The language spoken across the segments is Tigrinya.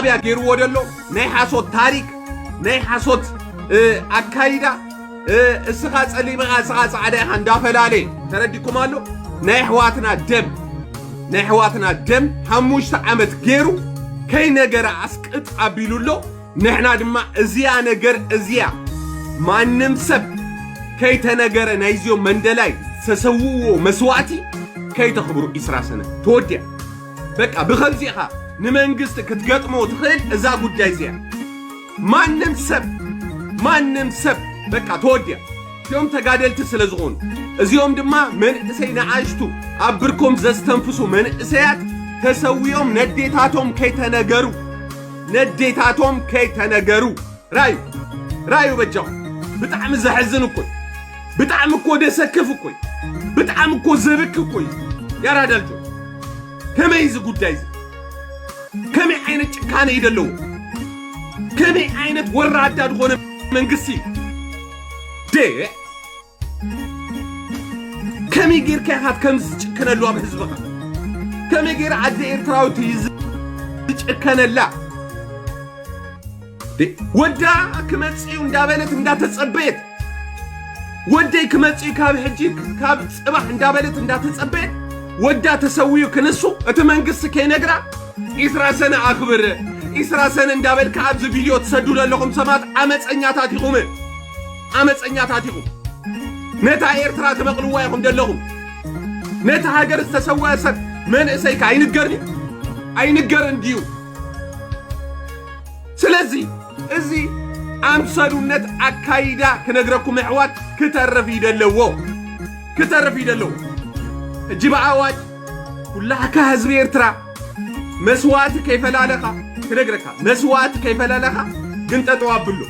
ሻዕብያ ገይርዎ ደሎ ናይ ሓሶት ታሪክ ናይ ሓሶት ኣካይዳ እስኻ ጸሊም ኢኻ እስኻ ጻዕዳ ኢኻ እንዳፈላለየ ተረዲኩም ኣሎ ናይ ኣሕዋትና ደም ናይ ኣሕዋትና ደም ሓሙሽተ ዓመት ገይሩ ከይነገረ ኣስቅጥ ኣቢሉ ኣሎ ንሕና ድማ እዚያ ነገር እዚያ ማንም ሰብ ከይተነገረ ናይዚኦም መንደላይ ዝተሰውእዎ መስዋእቲ ከይተኽብሩ ኢስራ ሰነ ተወዲያ በቃ ብከምዚ ኢኻ ንመንግስቲ ክትገጥሞ ትኽእል እዛ ጉዳይ እዚኣ ማንም ሰብ ማንም ሰብ በቃ ተወዲያ እዚኦም ተጋደልቲ ስለ ዝኾኑ እዚኦም ድማ መንእሰይ ንኣሽቱ ኣብ ብርኮም ዘስተንፍሱ መንእሰያት ተሰዊኦም ነዴታቶም ከይተነገሩ ነዴታቶም ከይተነገሩ ራዩ ራዩ በጃኹም ብጣዕሚ ዘሕዝን እኮ እዩ ብጣዕሚ እኮ ደሰክፍ እኮ እዩ ብጣዕሚ እኮ ዘብክ እኮ እዩ ያራዳ ልጆች ከመይ እዚ ጉዳይ እዚ ከመይ ዓይነት ጭካነ እዩ ዘለዎ ከመይ ዓይነት ወራዳ ዝኾነ መንግስቲ እዩ ደ ከመይ ጌርካ ኢኻ ከምዚ ዝጭከነሉ ኣብ ህዝብኻ ከመይ ጌር ኣደ ኤርትራዊት እዩ ዝጭከነላ ወዳ ክመፅዩ እንዳበለት እንዳተፀበየት ወደይ ክመፅዩ ካብ ሕጂ ካብ ፅባሕ እንዳበለት እንዳተፀበየት ወዳ ተሰውዩ ክንሱ እቲ መንግስቲ ከይነግራ ኢስራ ሰነ ኣኽብር ኢስራ ሰነ እንዳበልካ ኣብዚ ቪድዮ ትሰዱ ዘለኹም ሰባት ዓመፀኛታት ኢኹም ዓመፀኛታት ኢኹም ነታ ኤርትራ ትመቕልዋ ኢኹም ዘለኹም ነቲ ሃገር ዝተሰወአ ሰብ መንእሰይካ ኣይንገርን እዩ ኣይንገርን ድዩ ስለዚ እዚ ኣምሰሉነት ኣካይዳ ክነግረኩም ኣሕዋት ክተርፍ ይደለዎ ክተርፍ ይደለዎ ሕጂ ብኣዋጅ ኩላሕካ ህዝቢ ኤርትራ መስዋእቲ ከይፈላለኻ ክነግረካ መስዋእቲ ከይፈላለኻ ግን ጠጠው ኣብሉ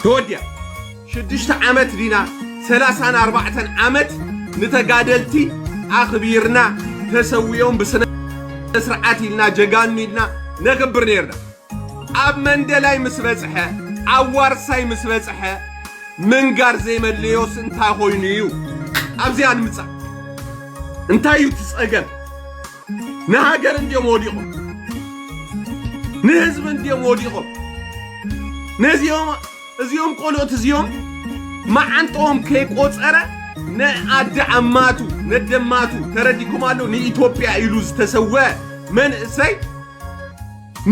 ተወዲያ ሽዱሽተ ዓመት ዲና ሰላሳን ኣርባዕተን ዓመት ንተጋደልቲ ኣኽቢርና ተሰዊኦም ብስነ ስርዓት ኢልና ጀጋኑ ኢልና ነኽብር ነርና ኣብ መንደላይ ምስ በጽሐ ኣብ ዋርሳይ ምስ በጽሐ ምንጋር ዘይመለዮስ እንታይ ኮይኑ እዩ ኣብዚኣ ንምጻእ እንታይ እዩ እቲ ጸገም ንሃገር እንድዮም ወዲቖም ንህዝቢ እንድዮም ወዲቖም ነዚኦም እዚኦም ቆልኦት እዚኦም መዓንጦም ከይቆፀረ ንኣዲ ዓማቱ ነደማቱ ተረዲኩም ኣሎ ንኢትዮጵያ ኢሉ ዝተሰወ መንእሰይ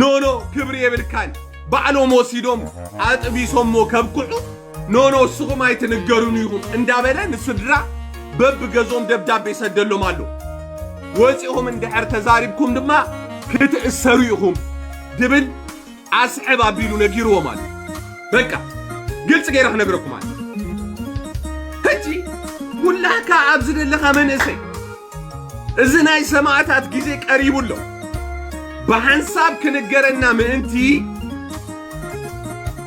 ኖኖ ክብሪ የብልካን ባዕሎም ወሲዶም ኣጥቢሶሞ ከብቅዑ ኖኖ እስኹም ኣይትንገሩን ይኹም እንዳበለ ንስድራ በብገዝኦም ደብዳቤ ይሰደሎም ኣሎ ወፂኹም እንድሕር ተዛሪብኩም ድማ ክትእሰሩ ኢኹም ድብል ኣስሕብ ኣቢሉ ነጊርዎም ኣሎ በቃ ግልፂ ገይረ ክነግረኩም ኣሎ ሕጂ ኩላካ ኣብዚ ዘለካ መንእሰይ እዚ ናይ ሰማእታት ግዜ ቀሪቡ ኣሎ። ብሓንሳብ ክንገረና ምእንቲ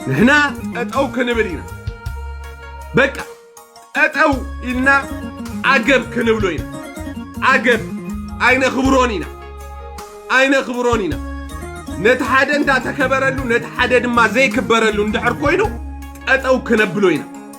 ንሕና ጠጠው ክንብል ኢና። በቃ ጠጠው ኢልና ዓገብ ክንብሎ ኢና። ዓገብ ኣይነኽብሮን ኢና ኣይነኽብሮን ኢና። ነቲ ሓደ እንዳተከበረሉ ነቲ ሓደ ድማ ዘይክበረሉ እንድሕር ኮይኑ ጠጠው ክነብሎ ኢና።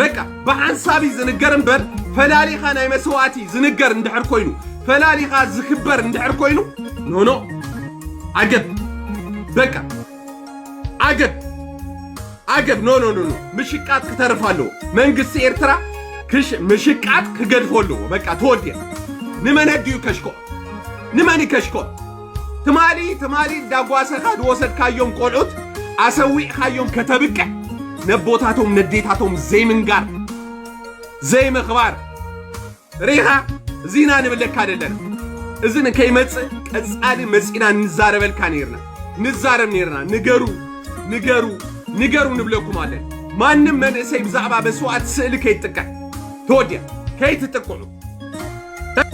በቃ ብሓንሳብ እዩ ዝንገር እምበር ፈላሊኻ ናይ መስዋእቲ ዝንገር እንድሕር ኮይኑ ፈላሊኻ ዝክበር እንድሕር ኮይኑ ኖኖ ዓገብ በቃ ዓገብ ዓገብ ኖ ኖ ኖ ኖ ምሽቃጥ ክተርፍ ኣለዎ መንግስቲ ኤርትራ ክሽ ምሽቃጥ ክገድፎ ኣለዎ በቃ ተወዲያ ንመን ኣዲኡ ከሽኮ ንመን ከሽኮ ትማሊ ትማሊ እንዳጓሰኻ ዝወሰድካዮም ቆልዑት ኣሰዊዕኻዮም ከተብቅዕ ነቦታቶም ነዴታቶም ዘይምንጋር ዘይምኽባር ርኢኻ እዚና ንብለካ ደለና እዚ ንከይመፅእ ቀፃሊ መፂና ንዛረበልካ ነርና ንዛረብ ነርና ንገሩ ንገሩ ንገሩ ንብለኩም ኣለን ማንም መንእሰይ ብዛዕባ መስዋእት ስእሊ ከይጥቀዕ ተወዲያ ከይትጥቅዑ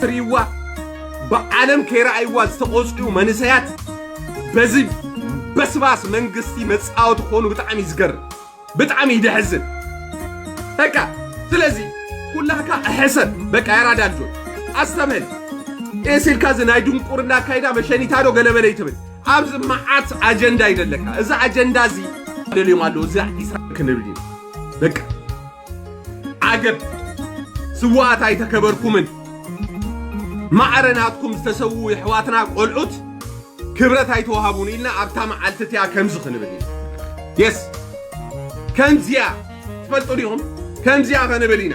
ትሪእዋ ብዓለም ከይረኣይዋ ዝተቖፅዑ መንእሰያት በዚ በስባስ መንግስቲ መፃወቲ ክኾኑ ብጣዕሚ ዝገርም ብጣዕሚ ይደሕዝን በቃ ስለዚ ኩላካ ሕሰብ በቃ ያራዳ ልጆች ኣስተብህል ኤሲልካ እዚ ናይ ድንቁርና ኣካይዳ መሸኒታ ዶ ገለበለ ይትብል ኣብዚ መዓት ኣጀንዳ ይደለካ እዚ ኣጀንዳ እዚ ደልዮም ኣለዉ እዚ ኢስራ ክንብል እዩ በቃ ዓገብ ስውኣት ኣይተከበርኩምን ማዕረ ናትኩም ዝተሰውኡ የሕዋትና ቆልዑት ክብረት ኣይተዋሃቡን ኢልና ኣብታ መዓልቲ እቲኣ ከምዚ ክንብል ኢና የስ ከምዚያ ትፈልጡ ዲኹም ከምዚያ ክንብል ኢና